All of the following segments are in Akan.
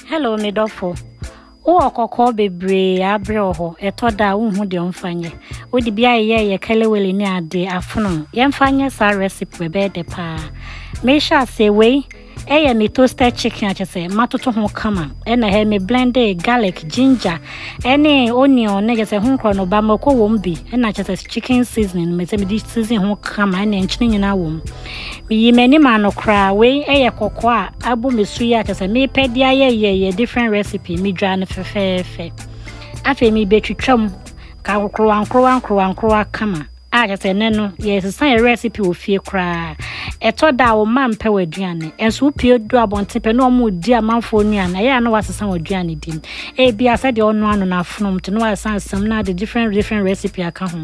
Hello me dɔfo. Wowɔ kɔkɔɔ bebree a abrɛ wɔ hɔ. Ɛtɔ da a wonhu deɛ ɔmfa nyɛ. Wode bi ayeyɛ yɛ kelewele ne ade afono. Yɛmfa nyɛ saa recipe ɛbɛyɛ dɛ paa. Mehyɛ aseɛ wei ɛyɛ me toasted chicken akyɛ sɛ matoto ho kama. Ɛna hɛ me blende garlic, ginger, ɛne onion ne kyɛ sɛ ho nkorɔ no ba mako wɔm bi. Ɛna kyɛ sɛ chicken seasoning me sɛ mede season ho kama ɛne nkyene nyinaa wɔm. Meyii m'anim ano koraa. Wei yɛ kɔkɔɔ a abu me so yi a kyerɛ sɛ mepɛ de ayɛ yɛ yɛ different recipe. Medwa no fɛfɛɛfɛ. Afei mebɛtwitwa mu ka nkorowa nkorowa nkorowa nkorowa kama a kyerɛ sɛ ɛnɛ no yɛsesa yɛ recipe wɔ fie koraa. Ɛtɔ da a wo mma mpɛ w'aduane. Ɛnso wopie du abɔnten pɛ na wɔn di amanfoɔ nnuane. Ɛyɛ a na wasesa wɔn aduane di. Ebia sɛdeɛ ɔnoa no n'afonom nti na wasesa nsam na ade different different recipe aka ho.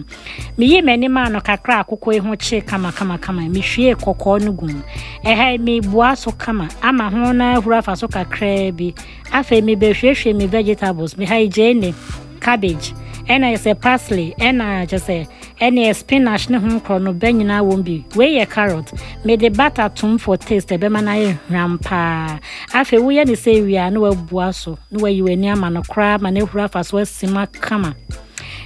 Miyii m'ani maa no kakra a koko yi ho kyee kamakamakama. Mihwiee kɔkɔɔ no gum. Ɛha yi mebua so kama ama ho no ahuru afa so kakraa bi. Afei mebɛhwiehwie me vegetables. Meha yi gyeene, cabbage, ɛna yɛ sɛ parsley, ɛna kyɛ sɛ ɛne spinach ne ho nkorɔ no bɛ nyinaa wɔm bi. Wei yɛ carrot. Mede butter tom for taste ɛbɛma no ayɛ hwam paa. Afei woyɛ ne sɛ wie a na wabua so na wayi w'ani ama no koraa ma no ahuru afa so asim akama.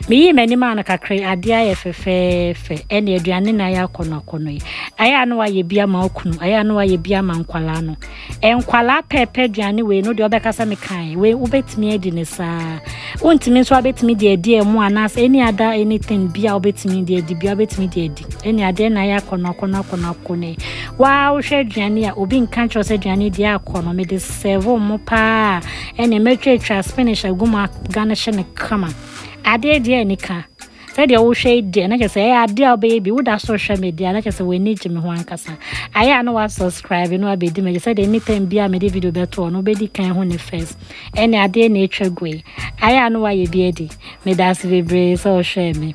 Meyii m'ani maa no kakra adeɛ ayɛ fɛfɛɛfɛ ɛne aduane na ayɛ akɔnɔ akɔnɔ yi ayɛ a na wayɛ bi ama okunu ayɛ a na wayɛ bi ama nkwalaa no nkwalaa pɛɛpɛ aduane wei no deɛ ɔbɛkasa me kan wei wobɛtumi adi ne saa wontumi nso abɛtumi deɛ adi ɛmu anaasɛ ɛni ada anything bi a wobɛtumi deɛ adi bi a wobɛtumi deɛ adi ɛne adeɛ na ayɛ akɔnɔ akɔnɔ akɔnɔ akɔnɔ yi waa wohwɛ aduane a obi nka nkyerɛ sɛ aduane deɛ akɔnɔ mede sɛvo mo paa Ɛnneɛ mɛtwatwa spinach agu mu aga no hye no kama adeɛ deɛ anika sɛdeɛ wohwɛ yi deɛ na kyerɛ sɛ ɛyɛ adeɛ a wobɛyɛ bi woda so hwɛ me deɛ na kyerɛ sɛ w'ani gye me ho ankasa ayɛ a na wasubscribe no abɛdi m'akyi sɛdeɛ anytime bi a mede video bɛtoɔ no wobɛdi kan ho ne first ɛne adeɛ na ɛtwa gu yi ayɛ a na wayɛ bi adi meda ase bebree sɛ ɔhwɛɛ me